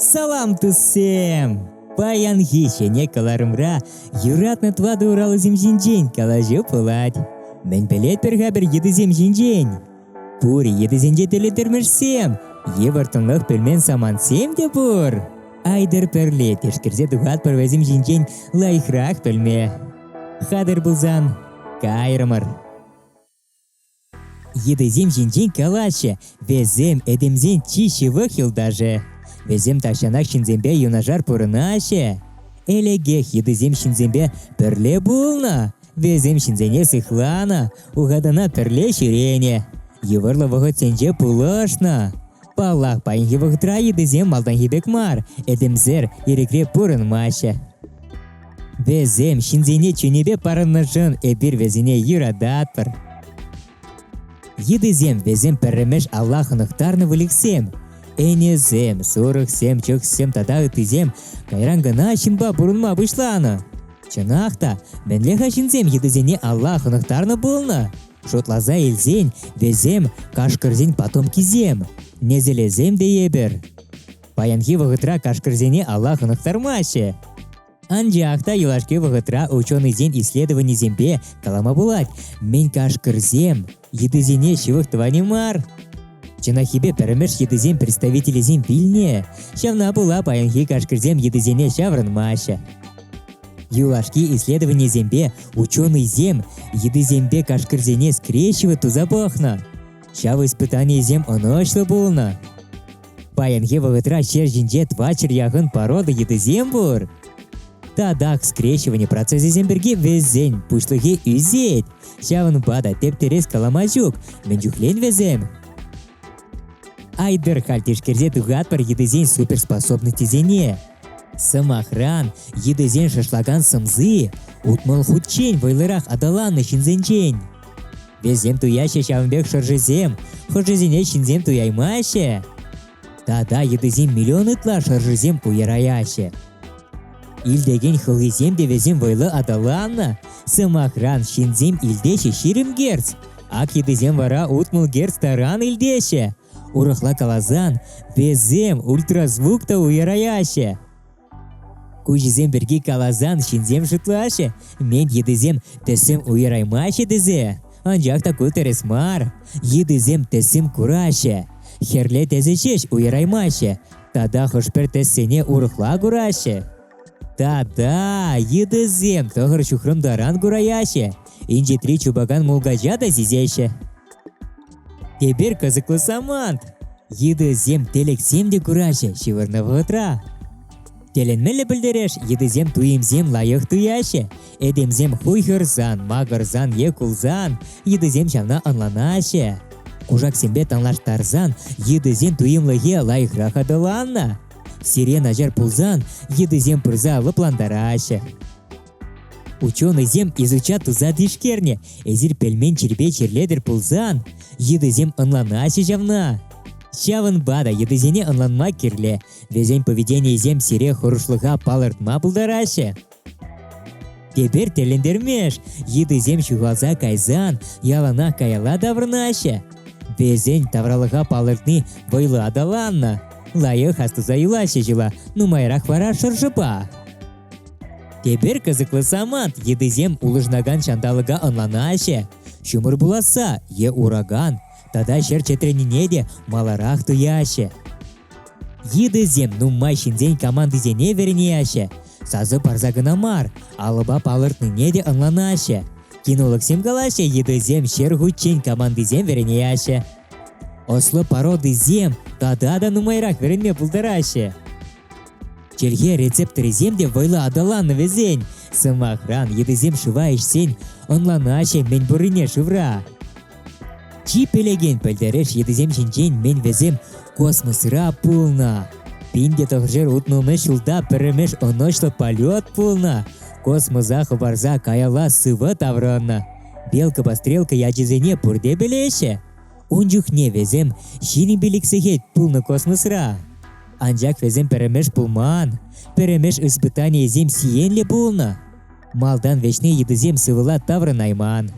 Салам, туссем! Паянхи ҫӗнӗ кӑларӑмра юратнӑ тӑватӑ уралусем ҫинчен калаҫу пулать. Мӗн пӗлетпӗр-ха пӗр йытӑсем ҫинчен? Пур йытӑсенче тӗлӗтӗрмӗшсем, йывӑртӑнлӑх пӗлмен самантсем те пур. Айтӑр пӗрле тишкерсе тухатпӑр вӗсем ҫинчен лайӑхрах пӗлме. Хатӑр пулсан, кайрӑмӑр. Йытӑсем ҫинчен калаҫҫӗ, вӗсем этемсен чи ҫывӑх юлташӗ. Вӗсем тахҫанах ҫынсемпе юнашар пурӑнаҫҫӗ. Элӗкех йытӑсем ҫынсемпе пӗрле пулнӑ. Вӗсем ҫынсене сыхланӑ, ухатана пӗрле ҫӳренӗ, йывӑрлӑ вӑхӑтсенче пулӑшнӑ. Паллах, паянхи вӑхӑтра йытӑсем малтанхи пек мар, этемсер ирӗкре пурӑнмаҫҫӗ. Вӗсем ҫынсене чунӗпе парӑннӑшӑн эпир вӗсене юрататпӑр. Йытӑсем вӗсем пӗрремеш Аллах хӑнӑхтарнӑ выльӑхсем. Ӗнесем, сурӑхсем, чӑхсем тата ыттисем кайран кӑна ҫынпа пурӑнма пуҫланӑ. Чӑнах та, мӗнле-ха ҫынсем йытӑсене Аллах хӑнӑхтарнӑ пулнӑ? Шутласа илсен, вӗсем кашкӑрсен потомкисем, несӗлӗсем тейӗпӗр. Паянхи вӑхӑтра кашкӑрсене алла хӑнӑхтармаҫҫӗ. Анчах та юлашки вӑхӑтра ученӑйсен исследованийӗсемпе калама пулать, мӗн кашкӑрсем йытӑсене ҫывӑх тӑвани мар. Чӑнахипе пӗрмӗш йытӑсен представителӗсем вилнӗ, ҫавна пула паянхи кашкӑрсем йытӑсене ҫаврӑнмаҫҫӗ. Юлашки исследованисемпе ученӑйсем йытӑсемпе кашкӑрсене скрещивать туса пӑхнӑ. Ҫав испытанийӗсем ӑнӑҫлӑ пулнӑ. Паянхи вӑхӑтра ҫер ҫинче тӑватҫӗр яхӑн порода йытӑсем пур. Татах скрещивание процесӗсем пирки вӗсен пуҫлӑхӗ ӳсет. Ҫавӑнпа та тептерес калама ҫук, мӗн чухлен вӗсем? Айдӑр халь тишкерсе тухатпӑр йытӑсен суперспособностьсене. Сӑмахран, йытӑсен шашлакан сӑмси утмӑл хутчен вӑйлӑрах аталаннӑ ҫынсенчен. Вӗсем туяҫҫӗ ҫавӑн пек шӑршисем. Хӑшӗсене ҫынсем туяймаҫҫӗ. Тата йытӑсем миллион ытла шӑршисем пуйӑраяҫҫӗ. Илтекен хӑлхисем те вӗсем вӑйлӑ аталаннӑ. Сӑмахран, ҫынсем илтеҫҫӗ ҫирӗм герц. Ак йытӑсем вара утмӑл герц таран илтеҫҫӗ. Урӑхла каласан, вӗсем ультразвук та уйӑраяҫҫӗ. Куҫӗсем пирки каласан ҫынсем шутлаҫҫӗ, мен йытӑсем тӗсӗм уйӑраймаҫҫӗ тесе. Анчах та ку тӗрӗс мар. Йытӑсем тӗсӗм кураҫҫӗ. Хӗрлӗ тӗсӗ ҫеҫ уйӑраймаҫҫӗ. Тата хӑш-пӗр тӗссене урӑхла кураҫҫӗ. Тата йытӑсем тӑхӑр ҫухрӑм таран кураяҫҫӗ. Инҫетри чупакан мулкача та сисеҫҫӗ. Эпир кӑсӑклӑ самант. Йытӑсем телексем те кураҫҫӗ ҫывӑрнӑ вӑхӑтра. Тӗлӗнмелле пӗлтереш, йытӑсем туйӑмсем лайӑх туяҫҫӗ. Этемсем хуйхӑрсан, макӑрсан е кулсан йытӑсем ҫавна ӑнланаҫҫӗ. Кушаксемпе танлаштарсан йытӑсен туйӑмлӑхӗ лайӑхрах аталаннӑ. Сире начар пулсан йытӑсем пырса лӑплантараҫҫӗ. Ученӑйсем изуча туса тишкернӗ. Эсир пӗлмен чирпе чирлетӗр пулсан, йытӑсем ӑнланаҫҫӗ ҫавна. Ҫавӑнпа та йытӑсене ӑнланма кирлӗ. Вӗсен поведенийӗсем сире хӑрушлӑха палӑртма пултараҫҫӗ. Тепер тӗлӗнтермеш, йытӑсем ҫухалса кайсан яланах каялла таврӑнаҫҫӗ. Вӗсен тавралӑха палӑртни вӑйлӑ аталаннӑ. Лайӑх астуса юлаҫҫӗ ҫула, нумайрах вара шӑршӑпа. Тепер кӑсӑклӑ самант йытӑсем улӑшӑнакан ҫанталӑка ӑнланаҫҫӗ. Ҫумӑр пуласса е ураган тата ҫӗр чӗтренине те маларах туяҫҫӗ. Йытӑсем нумай ҫынсен командисене вӗренеҫҫӗ, сасӑ парса кӑна мар, алӑпа палӑртнине те ӑнланаҫҫӗ. Кинологсем калаҫҫӗ, йытӑсем ҫӗр хутчен командисем вӗренеҫҫӗ. Ӑслӑ пародисем тата та нумайрах вӗренме пултараҫҫӗ. Чӗлхе рецепторӗсем те вӑйлӑ аталаннӑ вӗсен. Сӑмахран, йытӑсем шыва ӗҫсен ӑнланаҫҫӗ мӗн пуррине шывра. Чи пӗлекен пӗлтерӗш йытӑсем ҫинчен мӗн вӗсем космосра пулнӑ. Пинте тӑхӑршер утмӑлмӗш ҫулта пӗрремеш ӑнӑҫлӑ полет пулнӑ. Космоса хӑпарса каялла сывӑ таврӑннӑ. Белка-пострелка ячӗсене пурте пӗлеҫҫӗ. Ун чухне вӗсем ҫирӗппӗн ик сехет пулнӑ космосра. Анчах вӗсем пӗрремеш пулман. Пӗрремеш испытанийӗсем сиенлӗ пулнӑ. Малтан вӗҫне йытӑсем сывӑла таврӑнайман.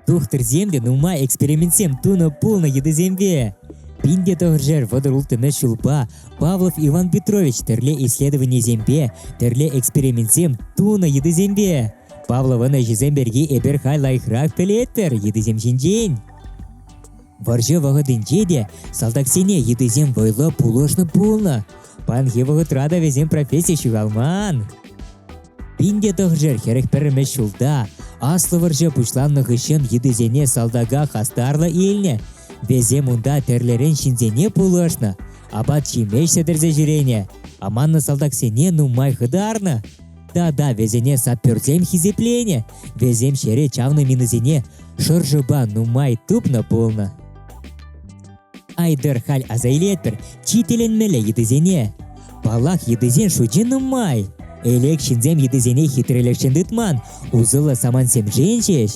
Тухтӑрсем те нумай экспериментсем тунӑ пулнӑ йытӑсемпе. Пин те тӑхӑршер вӑтӑр улттӑмӗш ҫулпа Павлов Иван Петрович тӗрле исследованисемпе, тӗрле экспериментсем тунӑ йытӑсемпе. Павловӑн ӗҫӗсем пирки эпир халь лайӑхрах пӗлетпӗр йытӑсем ҫинчен. Вӑрҫӑ вӑхӑтӗнче те салтаксене йытӑсем вӑйлӑ пулӑшнӑ пулнӑ. Паянхи вӑхӑтра та вӗсем професси ҫухалман. Пинте тӑхӑршер хӗрӗх пӗрремӗш ҫулта аслӑ вӑрҫӑ пуҫланнӑ хыҫҫӑн йытӑсене салтака хастарлӑ илнӗ. Вӗсем унта тӗрлӗрен ҫынсене пулӑшнӑ, апат-ҫимӗҫ сӗтӗрсе ҫӳренӗ, аманнӑ салтаксене нумай хытарнӑ. Да-да, вӗсене саперсем хисепленӗ. Вӗсем ҫӗре чавнӑ минӑсене шӑршӑпа нумай тупнӑ пулнӑ. Айдер халь аса илетпӗр чи тӗлӗнмелле йытӑсене. Паллах, йытӑсен шучӗ нумай. Элек ҫынсем йытӑсене хитрелӗхшӗн тытман, усӑллӑ самантсемшен ҫеҫ.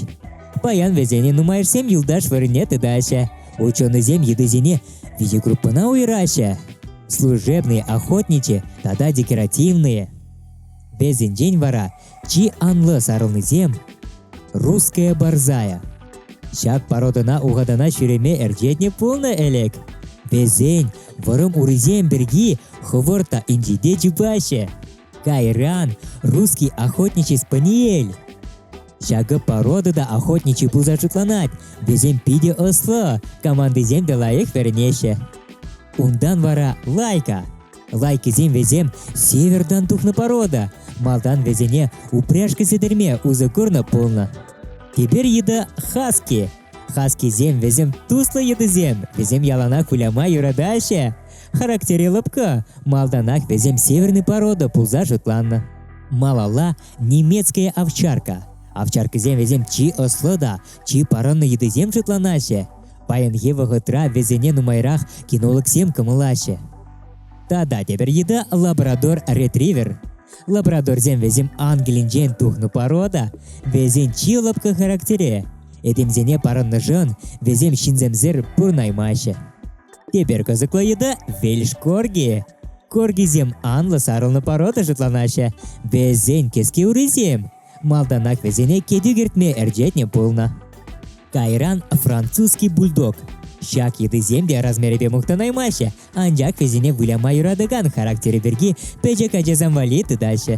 Паян вӗсене нумайӑшсем юлташ вырӑнне тытаҫҫӗ. Ученӑйсем йытӑсене виҫе группӑна уйӑраҫҫӗ. Служебные, охотничьи тата декоративные. Вӗсенчен вара чи анлӑ сарӑлнисем «Русская борзая». Ҫак пародӑна ухатана ҫӳреме ӗрчетнӗ пулнӑ ӗлӗк. Вӗсен вӑрӑм урисем пирки хӑвӑрт та инҫете чупаҫҫӗ. Кайран русский охотничий спаниель. Ҫакӑ порода та охотничий пулса шутланать, вӗсем питӗ ӑслӑ, командисем те лайӑх вӗренеҫҫӗ. Унтан вара лайка Лайкисем вӗсем севертан тухнӑ порода. Малтан вӗсене упряжка сӗтӗрме усӑ курнӑ пулнӑ. Теперь йытӑ хаски. Хаскисем вӗсем туслӑ йытӑсем. Вӗсем яланах выляма юратаҫҫӗ. Характере лӑпкӑ. Малтанах вӗсем северный порода пулса шутланнӑ. Малалла немецкая овчарка. Овчаркӑсем вӗсем чи ӑслӑ та чи парӑннӑ йытӑсем шутланаҫҫӗ. Паянхи вӑхӑтра вӗсене нумайрах кинологсем кӑмӑлаҫҫӗ. Тата тепӗр йытӑ лабрадор ретривер. Лабрадорсем вӗсем Англинчен тухнӑ порода, вӗсен чи лӑпкӑ характере. Этемсене парӑннӑшӑн вӗсем ҫынсемсӗр пурнаймаҫҫӗ. Тепер кӑсӑклӑ йытӑ Вельш Корги. Коргисем анлӑ сарӑлнӑ порода шутланаҫҫӗ. Вӗсен кӗске урисем. Малтанах вӗсене кӗтӳ кӗртме ӗрчетнӗ пулнӑ. Кайран французский бульдог. Ҫак йытӑсем те размерӗпе мухтанаймаҫҫӗ, анчах вӗсене выляма юратакан характерӗ пирки пӗчӗк ачасем валли тытаҫҫӗ.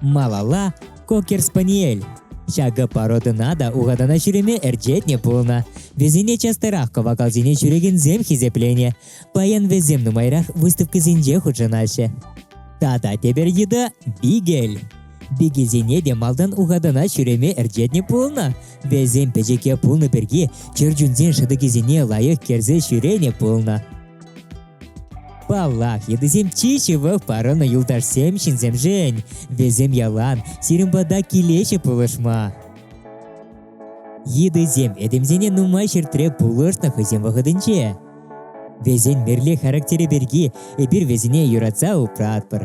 Малалла Кокер спаниель. Ҫакӑ породӑна та ухатана ҫӳреме ӗрчетнӗ пулнӑ. Вӗсене частарах кӑвакалсене ҫӳрекенсем хисепленӗ. Паян вӗсем нумайрах выставкӑсенче хутшӑнаҫҫӗ. Тата тепӗр йытӑ – бигель. Бигельсене те малтан ухатана ҫӳреме ӗрчетнӗ пулнӑ. Вӗсем пӗчӗке пулнӑ пирки чӗрчунсен шӑтӑкӗсене лайӑх кӗрсе ҫӳренӗ пулнӑ. Паллах, йытӑсем чи ҫывӑх парӑннӑ юлташсем ҫынсемшӗн. Вӗсем ялан сирӗн пата килеҫҫӗ пулӑшма. Йытӑсем этемсене нумай ҫӗртре пулӑшнӑ хӑйсен вӑхӑтӗнче. Вӗсен мирле характерӗ пирки эпир вӗсене юратса упратпӑр.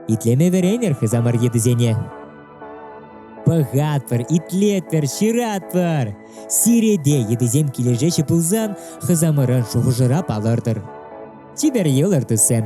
Итлеме вӗренӗр хысамар йытӑсене. Пӑхатпӑр, итлетпӗр, ҫыратпӑр. Сиреде йытӑсем килӗшеҫҫӗ пулсан, хысамӑрӑн шухӑшӑра палӑртӑр. Чипер йӑлӑр туссем!